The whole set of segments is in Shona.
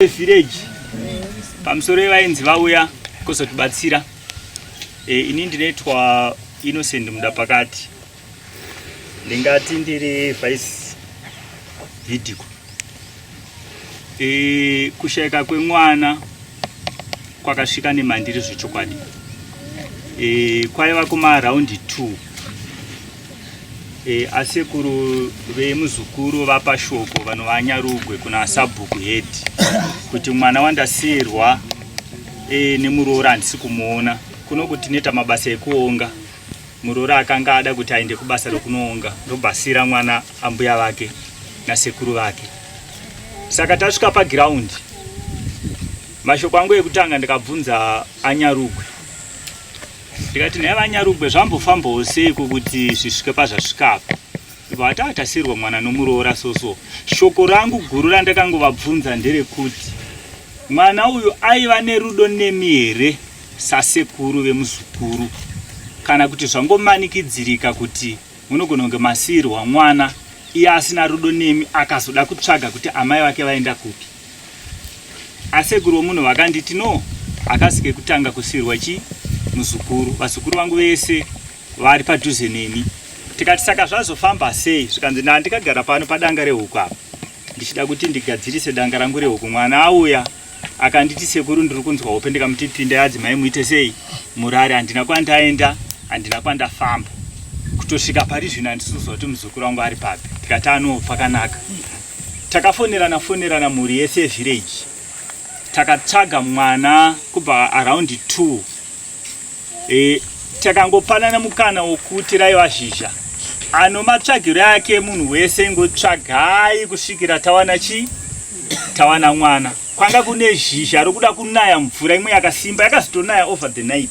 village pamusoro yevaenzi vauya kuzotibatsira e, ini ndinoitwa innocent muda pakati ndingati ndiri vice vidico e, kushaika kwemwana kwakasvika nemandiri zvechokwadi e, kwaiva kumaraundi two E, asekuru vemuzukuru vapa shoko vanova nyarugwe kuna sabhuku head kuti mwana wandasiyirwa e, nemuroora handisi kumuona kuno kuti neta mabasa ekuonga muroora akanga ada kuti aende kubasa rekunoonga ndobasira mwana ambuya vake nasekuru vake saka tasvika pagiraundi mashoko angu ekutanga ndikabvunza anyarugwe ndikati nhai vanyarugwe zvambofambawo seiko kuti zvisvike pazvasvika apa ibva vati atasirwa mwana nomuroora soso shoko rangu guru randakangovabvunza nderekuti mwana uyu aiva nerudo nemi here sasekuru vemuzukuru kana kuti zvangomanikidzirika kuti munogona kunge masiirwa mwana iye asina rudo nemi akazoda kutsvaga kuti amai vake vaenda kupi Asekuru womunhu vakanditi no hakasi kekutanga kusvirwa chi muzukuru vazukuru vangu vese vari padhuze neni tikati saka zvazofamba sei zvikanzi ndaa ndikagara pano padanga rehuku apa ndichida kuti ndigadzirise danga rangu rehuku mwana auya akanditi sekuru ndiri kunzwa hope ndikamuti pinda yadzi mai muite sei murari handina kwandaenda handina kwandafamba kutosvika pari zvino handisi kuzwa kuti muzukuru wangu ari papi tikati ano pakanaka Takafonerana fonerana mhuri yese village takatsvaga mwana kubva around 2 e, takangopanana mukana wokuti raiva zhizha ano matsvagiro ake munhu wese ingotsvagai kusvikira tawana chi tawana mwana kwanga kune zhizha rokuda kunaya mvura imwe yakasimba yakazotonaya over the night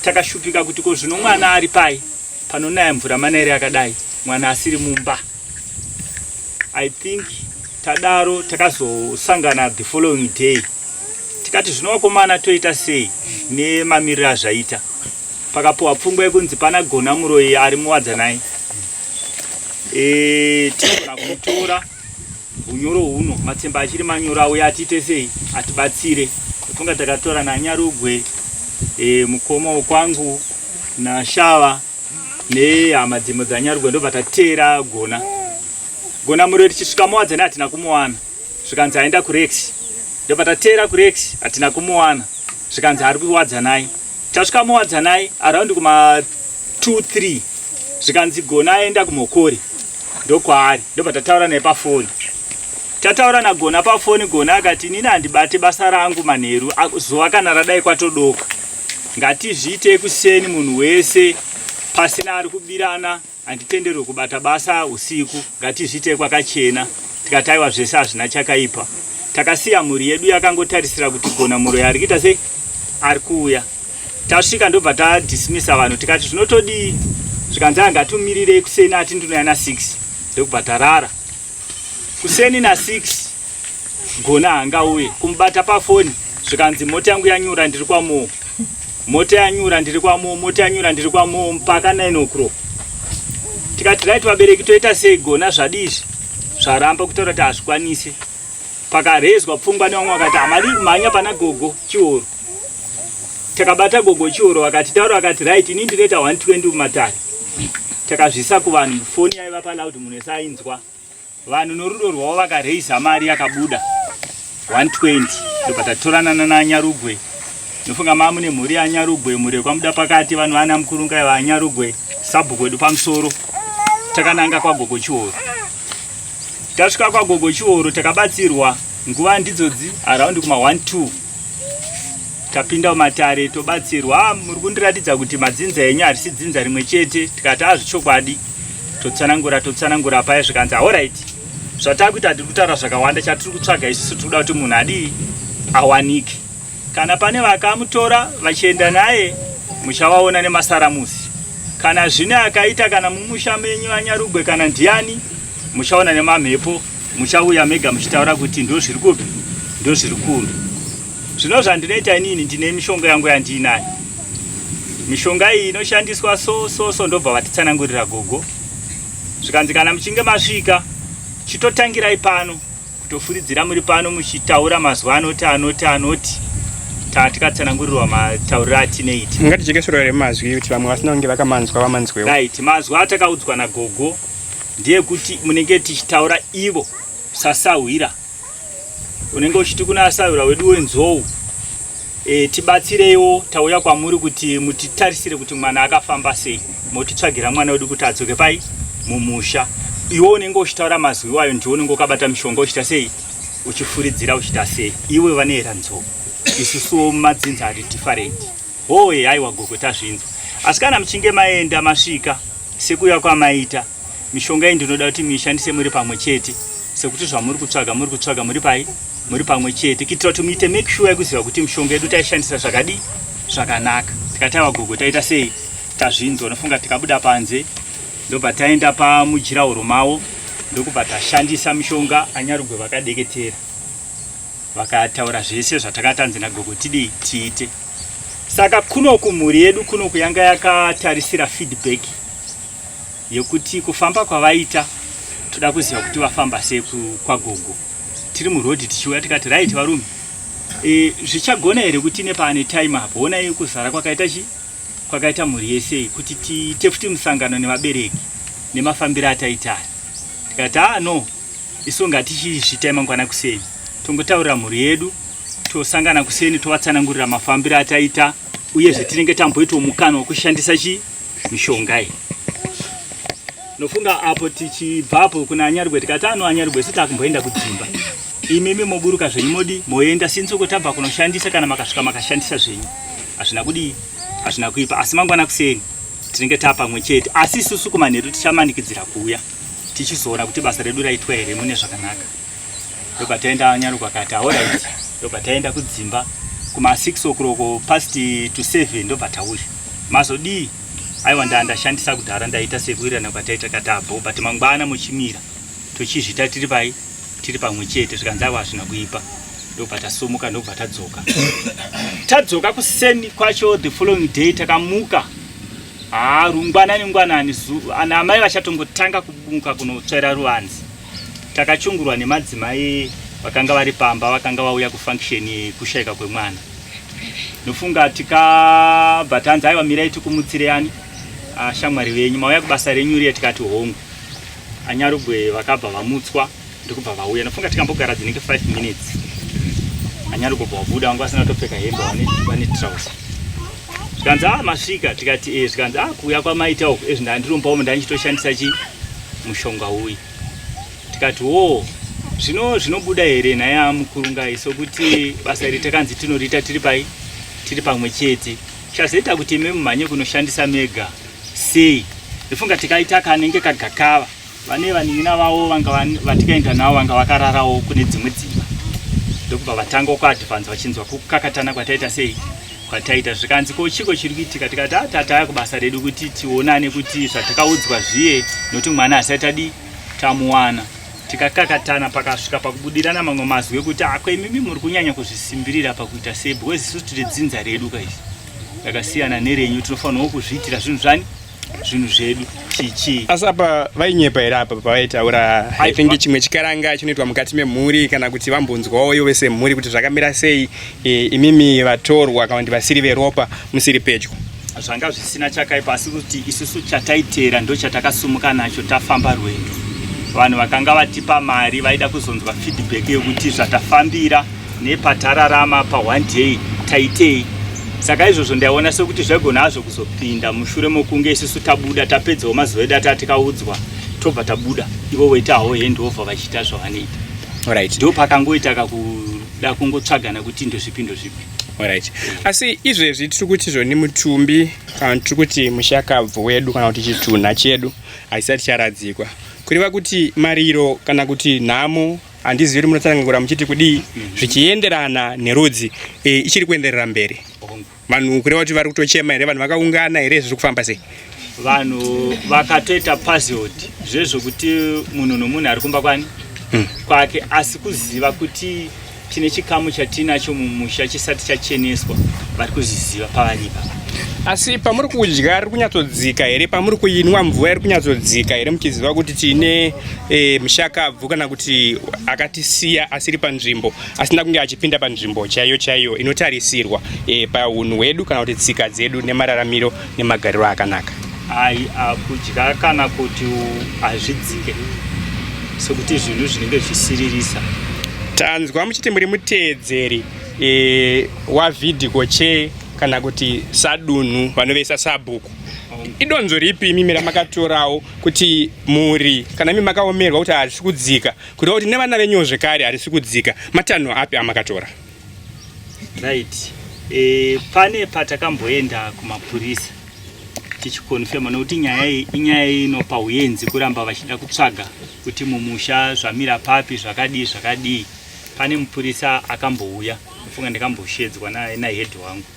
takashupika kuti ko zvino mwana ari pai panonaya mvura manaire akadai mwana asiri mumba I think tadaro takazosangana the following day tikati zvino vakomana toita sei nemamiriro azvaita pakapuwa pfungwa yekunzi pana gona muroyi ari muwadza naye e, tinogona kutora unyoro huno matsemba achiri manyoro auya atiite sei atibatsire funga takatora nanyarugwe e, mukoma wekwangu nashava nehama dzimwe dzanyarugwe ndobva tateera gona gona muriro tichisvika muwadzane hatina kumuwana zvikanzi aenda kurex ndobva tateera kurex hatina kumuwana zvikanzi ari kuwadzanai tasvika muwadzanai araundi kuma 23 zvikanzi gona aenda kumokori ndokwaari ndobva tataura naye pafoni tataura nagona pafoni gona akati inini handibate basa rangu manheru zuva kana radai kwatodoka Ngatizviite kuseni munhu wese pasina ari kubirana handitenderwe kubata basa usiku ngatizviite kwakachena tikataiwa zvese hazvina chakaipa takasiya mhuri yedu yakangotarisira kuti gona muroyi ari kuita sei ari kuuya tasvika ndobva tadismisa vanhu tikati zvinotodii zvikanzi anga tumirirei kuseni ati ndinoya na6 ndokubva tarara kuseni na6 gona hangauye kumubata pafoni zvikanzi mota yangu yanyura ndiri kwamoo mota yanyura ndiri kwamoo mota yanyura ndiri kwamoo mpaka 9 o'clock tikati right vabereki toita sei gona zvadii izvi zvaramba kutaura kuti hazvikwanise pakarezwa pfungwa nevamwe vakati hamadi kumhanya pana gogo chihoro takabata gogo chihoro vakati taura vakati right ini ndinoita 120 mumatare takazvisa kuvanhu foni yaiva paloud munhu ese ainzwa Vanhu norudo rwavo vakareisa mari yakabuda 120 ndobatatorana nananyarugwe ndofunga mamune mhuri yanyarugwe mhuri yekwamuda pakati vanhu vana mukurunga vanyarugwe sabhuku wedu pamusoro takananga kwagogo chihoro tasvika kwagogo chihoro takabatsirwa nguva ndidzodzi araundi kuma 12 tapinda mumatare tobatsirwa ah, muri kundiratidza kuti madzinza enyu harisi dzinza rimwe chete tikati azvichokwadi ah, totsanangura totsanangura paya zvikanzi aorit zvataa kuita tiri kutaura zvakawanda chatiri kutsvaga isusu tiri kuda kuti munhu adii awanike kana pane vakamutora vachienda naye muchavaona nemasaramusi kana zvine akaita kana mumusha menyu anyarugwe kana ndiani muchaona nemamhepo muchauya mega muchitaura kuti ndozviri kupi ndozviri kupi zvino zvandinoita inini ndine mishonga yangu yandiinayo mishonga iyi inoshandiswa so so so ndobva vatitsanangurira gogo zvikanzi kana muchinge masvika chitotangirai pano kutofuridzira muri pano muchitaura mazuva anoti anoti anoti taa tikatsanangurirwa matauriro atineiti ngatijekesorore mazwi kuti vamwe vasina kunge vakamanzwa vamanzwewo right mazwi atakaudzwa nagogo ndeyekuti munenge tichitaura ivo sasahwira unenge uchiti kuna asahwira wedu wenzou e, tibatsireiwo tauya kwamuri kuti mutitarisire kuti mwana akafamba sei motitsvagira mwana wedu kuti adzoke pai mumusha iwe unenge uchitaura mazwi iwayo ndiwo unenge ukabata mishonga uchita sei uchifuridzira uchita sei iwe vanoera nzou isusuwo mumadzinza ati different Hoye aiwa gogo tazvinzwa. Asi kana muchinge maenda masvika sekuya kwamaita mishonga iyi ndinoda kuti muishandise muri pamwe chete sekuti zvamuri kutsvaga muri kutsvaga muri pai muri pamwe chete kuitira kuti muite make sure yekuziva kuti mishonga yedu taishandisa zvakadii zvakanaka tikati aiwa gogo taita sei tazvinzwa unofunga tikabuda panze ndobva taenda pamujirahoro mavo ndokubva tashandisa mishonga anyarugwe vakadeketera vakataura zvese zvataka tanzi nagogo tidei tiite saka kuno kumhuri yedu kuno kuyanga yakatarisira feedback yekuti kufamba kwavaita toda kuziva kuti vafamba sei kwagogo tiri muroad tichiuya tikati right varume e, zvichagona here kuti nepaane time apo onai kuzara kwakaita chi kwakaita mhuri yesei kuti tiite futi musangano nevabereki nemafambiro ataitaya tikati a ah, no isu ngatichiisvitai mangwana kuseni tongotaurira mhuri yedu tosangana kuseni tovatsanangurira mafambiro ataita uyezve tinenge tamboitawo mukana wekushandisa chi mishonga iyi nofunga apo tichibvapo kuna anyarugwe tikati ano anyarugwe siti akumboenda kudzimba imimi moburuka zvenyu modi moenda since uko tabva kunoshandisa kana makasvika makashandisa zvenyu hazvina kudii hazvina kuipa asi mangwana kuseni tinenge taa pamwe chete asi isusu kumanheru tichamanikidzira kuuya tichizoona kuti basa redu raitwa here mune zvakanaka ndobva taenda nyaruko akati aoraiti ndobva taenda kudzimba kuma 6 okuroko past to 7 ndobva tauya mazodii aiwa ndaa ndashandisa kudhara ndaita sekuirana kwataita katabho but mangwana muchimira tochizvita tiri pai tiri pamwe chete zvikanzi aiwa hazvina kuipa ndobva tasumuka ndobva tadzoka tadzoka kuseni kwacho the following day takamuka Haa rungwanani ngwanani ana amai vachatongotanga kubunka kunotsvaira ruvanzi. Takachungurwa nemadzimai vakanga vari pamba vakanga vauya kufunction yekushaika kwemwana. Nofunga tikabva tanzi aiwa mirai tikumutsire ani ah, shamwari venyu mauya kubasa renyu riye tikati hongu. Anyarugwe vakabva vamutswa. ndikubva vauya ndofunga tikambogara dzinenge 5 minutes anyari kubva wabuda wangu asina kutopfeka hembe vane trouser zvikanzi a ah, masvika tikati e zvikanzi a ah, kuuya kwamaita uku ezvi ndandirumba umu ndanichitoshandisa chi mushonga uyu tikati wo zvino zvinobuda here nhai amukurungai sokuti basa iri takanzi tinoriita tiri pai tiri pamwe chete chazoita kuti imi mumhanye kunoshandisa mega sei ndifunga tikaita kanenge kagakava vane vanin'ina vavo vanga vatikaenda navo vanga vakararawo kune dzimwe dzimba ndokubva vatanga kuadvanza vachinzwa kukakatana kwataita sei kwataita zvikanzi ko chiko chiri kuitika tikati ah, tataya kubasa redu kuti tionane kuti zvatakaudzwa zviye nokuti mwana asati adii tamuwana tikakakatana pakasvika pakubudirana mamwe mazwi ekuti ako ah, imimi muri kunyanya kuzvisimbirira pakuita sei because isu tiri dzinza redu kaizvi rakasiyana nerenyu tinofanirawo kuzviitira zvinhu zvani zvinhu zvedu chichi asi apa vainyepa here apa pavaitaura i think chimwe chikaranga chinoitwa mukati memhuri kana kuti vambonzwawo ivo vese mhuri kuti zvakamira sei e, imimi vatorwa kana kuti vasiri veropa musiri pedyo zvanga zvisina chakaipa asi kuti isusu chataiteera ndo chatakasumuka nacho tafamba rwendo vanhu vakanga vatipa mari vaida kuzonzwa feedback yekuti zvatafambira nepatararama pa one day taitei saka izvozvo ndaiona sekuti zvaigona hazvo kuzopinda mushure mokunge isusu tabuda tapedzawo mazuva edu ataa tikaudzwa tobva tabuda ivo voita hawo hendova vachiita zvavanoita right. ndo pakangoita kakuda kungotsvagana kuti ndozvipi ndozvipi right. asi izvezvi tiri kuti zvoni mutumbi kana tiri kuti mushakabvu wedu kana kuti chitunha chedu haisati charadzikwa kureva kuti mariro kana kuti nhamo handizivi kuti munotsanangura muchiti kudii zvichienderana nerudzi e, ichiri kuenderera mberi vanhu kureva kuti vari kutochema here vanhu vakaungana here zviri kufamba sei vanhu vakatoita puzzled zvezvokuti munhu nomunhu ari kumba kwani hmm. kwake asi kuziva kuti tine chikamu chatinacho mumusha chisati chacheneswa vari kuzviziva pavanyika asi pamuri kudya ri kunyatsodzika here pamuri kuinwa mvura iri kunyatsodzika here muchiziva kuti tine e, mushakabvu kana kuti akatisiya asiri panzvimbo asina kunge achipinda panzvimbo chaiyo chaiyo inotarisirwa e, paunhu hwedu kana kuti tsika dzedu nemararamiro nemagariro akanaka ai akudya kana kuti hazvidzike sokuti zvinhu zvinenge zvisiririsa tanzwa muchiti muri muteedzeri e, wavidhiko che kana kuti sadunhu vanoveisa sabhuku idonzo ripi imi miramakatorao kuti mhuri kana imi makaomerwa kuti harisi kudzika kureva kuti nevana venyuwo zvekare harisi kudzika matanho api amakatora right e, pane patakamboenda kumapurisa tichikonfema nokuti nyaya iyi inyaya inopa uyenzi kuramba vachida kutsvaga kuti mumusha zvamira papi zvakadii zvakadii pane mupurisa akambouya ndofunga ndikamboshedzwa nahead wangu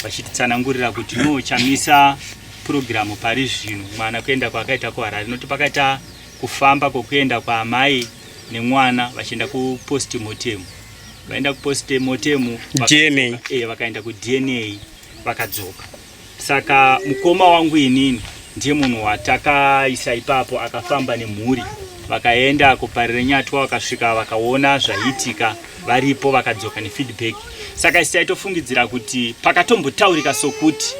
vachititsanangurira kuti no chamisa purogiramu pari zvino mwana kuenda kwaakaita kuharare noti pakaita kufamba kwokuenda kwaamai nemwana vachienda kuposti motemu vaenda kuposti motemu dna eh, vakaenda kudna vakadzoka saka mukoma wangu inini ndiye munhu watakaisa ipapo akafamba nemhuri vakaenda kuparire nyatwa vakasvika vakaona zvaiitika varipo vakadzoka nefeedback saka isi taitofungidzira kuti pakatombotaurika sokuti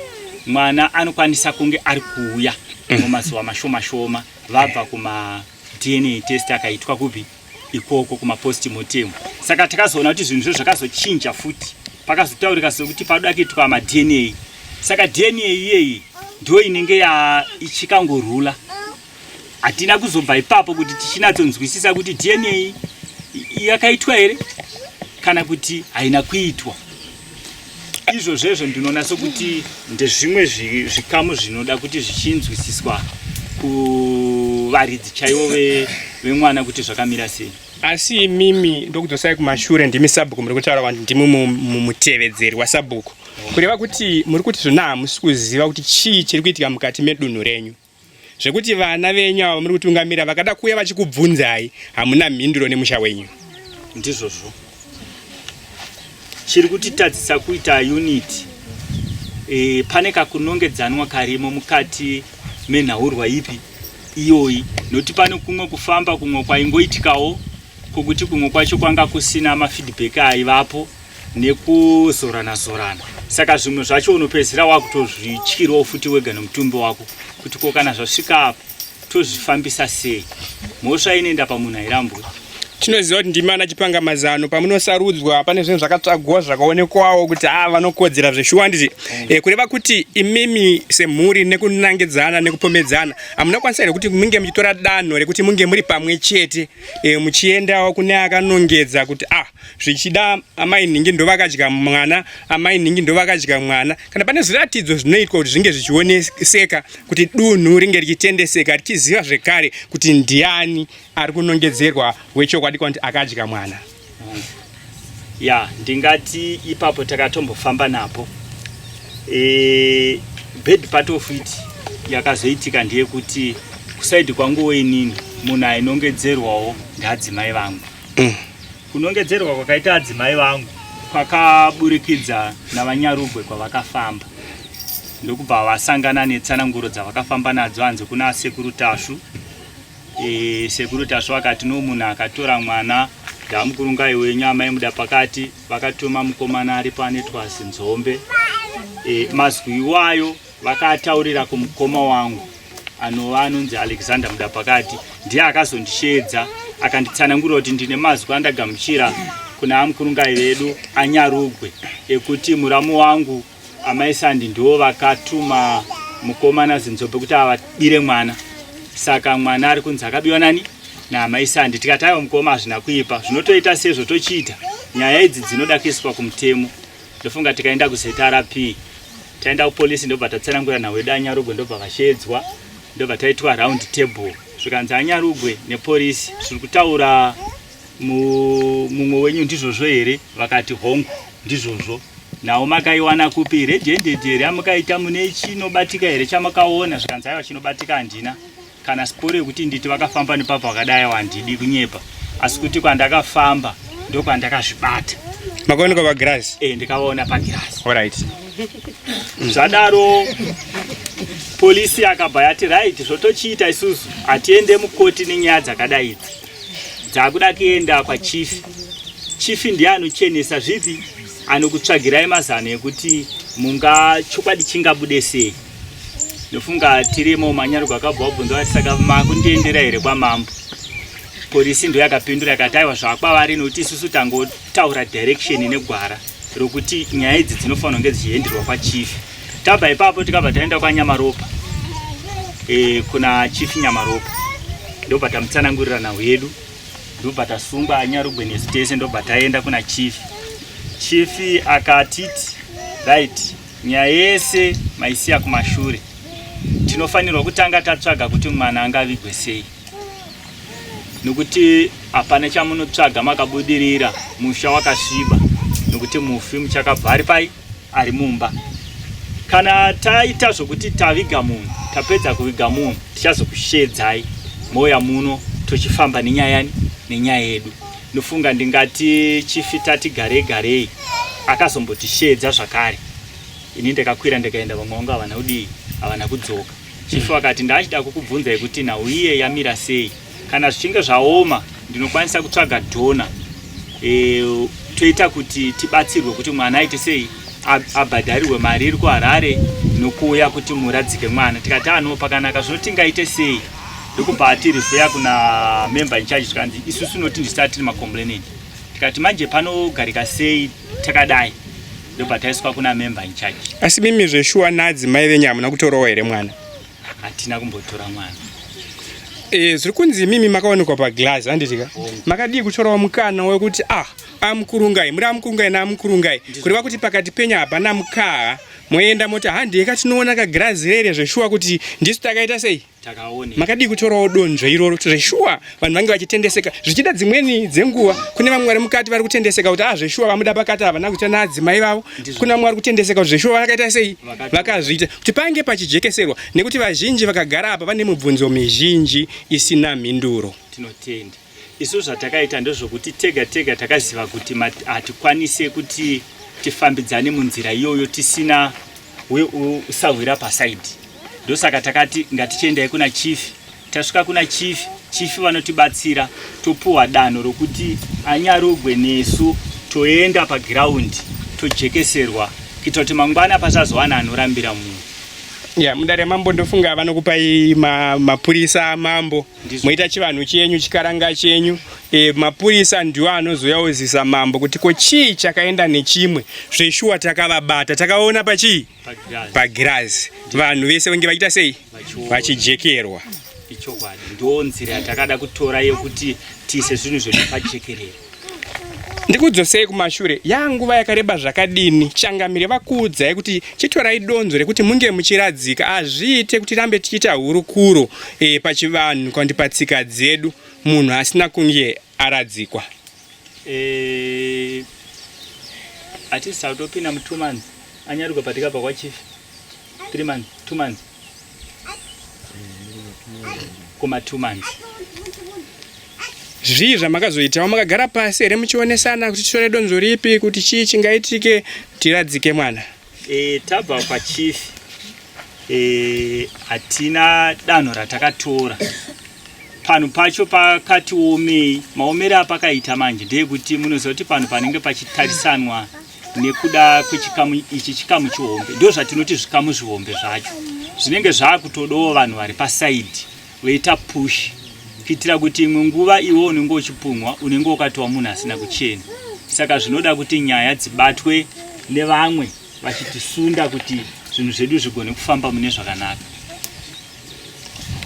mwana anokwanisa kunge ari kuuya mm. mumazuva mashoma shoma vabva kuma dna test akaitwa kupi ikoko kumapostimotem saka takazoona kuti zvinhu zvo zvakazochinja futi pakazotaurika sokuti padoda kuitwa madna saka dna iyeyi ndo inenge yaichikangorula hatina kuzobva ipapo kuti tichinatsonzwisisa kuti dna yakaitwa here kana kuti haina kuitwa izvo zvezvo ndinoona sokuti ndezvimwe zvikamu zvinoda kuti zvichinzwisiswa kuvaridzi chaivo vemwana kuti zvakamira sei asi imimi ndokudzosai kumashure ndimi sabhuku muri kutaura vanti ndimi mutevedzeri wasabhuku kureva kuti muri kuti zvona hamusi kuziva kuti chii chiri kuitika mukati medunhu renyu zvekuti vana venyu ava muri kutungamira vakada kuuya vachikubvunzai hamuna mhinduro nemusha wenyu ndizvozvo chiri kutitadzisa kuita unity e, pane kakunongedzanwa karimo mukati menhaurwa ipi iyoyi nokuti pane kumwe kufamba kumwe kwaingoitikawo kwokuti kumwe kwacho kwanga kusina mafeedback aivapo nekuzorana zorana saka zvimwe zvacho unopedzisira wakutozvityirwa ufuti wega nemutumbi wako kuti ko kana zvasvika apo tozvifambisa sei mhosva inoenda pamunhu airambwe tinoziva kuti ndimi ana chipanga mazano pamunosarudzwa pane zvinhu zvakatsvagwa zvakaonekwawo kuti haa ah, vanokodzera zveshuwa handiti mm. eh, kureva kuti imimi semhuri nekunangidzana nekupomedzana hamunakwanisa here kuti munge muchitora danho rekuti munge muri pamwe chete eh, muchiendawo kune akanongedza kuti ah zvichida amai nhingi ndovakadya mwana amai nhingi ndovakadya mwana kana pane zviratidzo zvinoitwa kuti zvinge zvichioneseka kuti dunhu ringe richitendeseka richiziva zvekare kuti ndiani ari kunongedzerwa wechokwadi kwanti akadya mwana ya ndingati ipapo takatombofamba napo e, bed part of it yakazoitika ndeyekuti kusaidi kwangu weinini munhu ainongedzerwawo ngaadzimai vangu mm. kunongedzerwa kwakaita adzimai vangu kwakaburikidza navanyarugwe kwavakafamba ndokubva vasangana netsananguro dzavakafamba nadzo hanzi kuna sekuru tasvu e, sekuru tasvu akati no munhu akatora mwana ndamukurungai wenyu amai muda pakati vakatuma mukomana aripo anetwa zinzombe e, mazwi iwayo Vakataurira kumukoma wangu anova anonzi Alexander Mudapakati ndiye akazondisheedza akanditsanangurira kuti ndine mazwi andagamuchira kuna amukurungai vedu anyarugwe ekuti muramu wangu amai Sandi ndiwo vakatuma mukoma naZinzobe kuti avabire mwana saka mwana ari kunzi akabiwa nani naamai Sandi tikataiwa mukoma hazvina kuipa zvinotoita sezvo tochiita nyaya idzi dzinoda kuiswa kumutemo ndofunga tikaenda kuZRP taenda kupolice ndobva tatsanangura nhau yedu anyarugwe ndobva vashedzwa ndobva taitwa round table zvikanzi anyarugwe nepolice zviri kutaura mumwe wenyu ndizvozvo here vakati hongu ndizvozvo nawo makaiwana kupi redhendedi here amakaita mune chinobatika here chamakaona zvikanzi aiwa chinobatika handina kana sikoro yekuti nditi vakafamba nepapa vakadai wandidi kunyepa asi kuti kwandakafamba ndokwandakazvibata makaoneka pagirazi e, eh, ndikavaona pagirazi right. zvadaro polisi yakabva yati right zvotochiita isusu hatiende mukoti nenyaya dzakadai idzi dzakuda kuenda kwachifi chifi ndiye anochenesa zvipi anokutsvagirai mazano ekuti munga chokwadi chingabude sei ndofunga tirimo manyarugwa akabva wabvunza vati saka makundiendera here kwamambo polisi ndo yakapindura yakati aiwa zvakwavari nokuti isusu tangotaura direction negwara rokuti nyaya idzi dzinofanira kunge dzichienderwa kwachief tabva ipapo tikabva taenda kwanyamaropa e, kuna chief nyamaropa ndobva tamutsanangurira nhau yedu ndobva tasungwa anyarugwe nesu tese ndobva taenda kuna chief chief akatiti right Nyaya yese maisiya kumashure. Tinofanirwa kutanga tatsvaga kuti mwana angavigwe sei, nokuti hapana chamunotsvaga makabudirira musha wakasviba, nokuti mufi muchakabva ari pai, ari mumba. Kana taita zvokuti taviga munhu, tapedza kuviga munhu, tichazokushedzai mouya muno tochifamba nenyaya yani nenyaya yedu. Ndofunga ndingati chifi tati garei garei akazombotishedza zvakare ini ndakakwira ndikaenda vamwe vangu havana kudii havana kudzoka chifi mm. vakati ndaachida kukubvunzai kuti nhau iye yamira sei kana zvichinge zvaoma ndinokwanisa kutsvaga dhona e, toita kuti tibatsirwe kuti mwana aite sei abhadharirwe mari iri kuharare nokuuya kuti muradzike mwana tikati anoo pakanaka zvinotingaite sei ndokubva atirifeya kuna member incharge tikanzi isu tinoti ndisati tiri macomplainant tikati manje panogarika sei takadai ndobva taiswa kuna member incharge asi mimi zveshuwa nadzi mai venyu hamuna kutorawo here mwana hatina kumbotora mwana e, zviri kunzi imimi makaonekwa paglass handitika oh. makadii kutorawo mukana wekuti ah amukurungai muri amukurungai naamukurungai kureva kuti pakati penyu hapana mukaha moenda moti handei ka tinoona ka grazi rere zveshuwa kuti ndisu takaita sei makadii kutorawo donzvo iroro zveshuwa vanhu vange vachitendeseka zvichida dzimweni dzenguva kune vamwe vari mukati vari kutendeseka kuti ah zveshuwa vamuda pakati havana kuita naadzimai vavo kuna vamwe vari kutendeseka kuti zveshuwa vakaita sei vakazviita kuti pange pachijekeserwa nekuti vazhinji vakagara apa vane mubvunzo mizhinji isina mhinduro tinotenda Isu zvatakaita ndezvokuti tega tega takaziva kuti hatikwanise kuti tifambidzane munzira iyoyo tisina usahwira pasaidi ndosaka takati ngatichiendai kuna chief tasvika kuna chief chief vanotibatsira topuwa danho rokuti anyarugwe nesu toenda pagiraundi tojekeserwa kuita kuti mangwana pasazowana anorambira munhu ya mudare mambo ndofunga vanokupai mapurisa ma mambo moita chivanhu chenyu chikaranga chenyu e, mapurisa ndiwo anozoyauzisa mambo kuti ko chii chakaenda nechimwe zveshuwa takavabata takaona pachii pagirazi vanhu vese vange vachiita sei vachijekerwa ichokwadi ndoo nzira yatakada kutora yekuti tiise zvinhu zvedu pajekerera ndikudzosei kumashure yaa nguva yakareba zvakadini changamire vakuudzai kuti chitorai donzo rekuti munge muchiradzika hazviite kuti rambe tichiita hurukuro e, pachivanhu kana kuti patsika dzedu munhu asina kunge aradzikwa e, atisi tautopinda mutumanzi anyaruka patika pakwachifi 3 months 2 months kuma 2 months zvii zvamakazoitawo makagara pasi here muchionesana kuti titore donzo ripi kuti chii chingaitike tiradzike mwana e, tabva pachief e, hatina e, danho ratakatora panhu pacho pakatiomei maomere apakaita manje ndeyekuti munoziva kuti panhu panenge pachitarisanwa nekuda kwechikamu ichi chikamu chihombe ndo zvatinoti zvikamu zvihombe zvacho zvinenge zvakutodawo vanhu vari pasaidi voita push kuitira kuti imwe nguva iwe unenge uchipunhwa unenge ukatiwa munhu asina kuchena saka zvinoda kuti nyaya dzibatwe nevamwe vachitisunda kuti zvinhu zvedu zvigone kufamba mune zvakanaka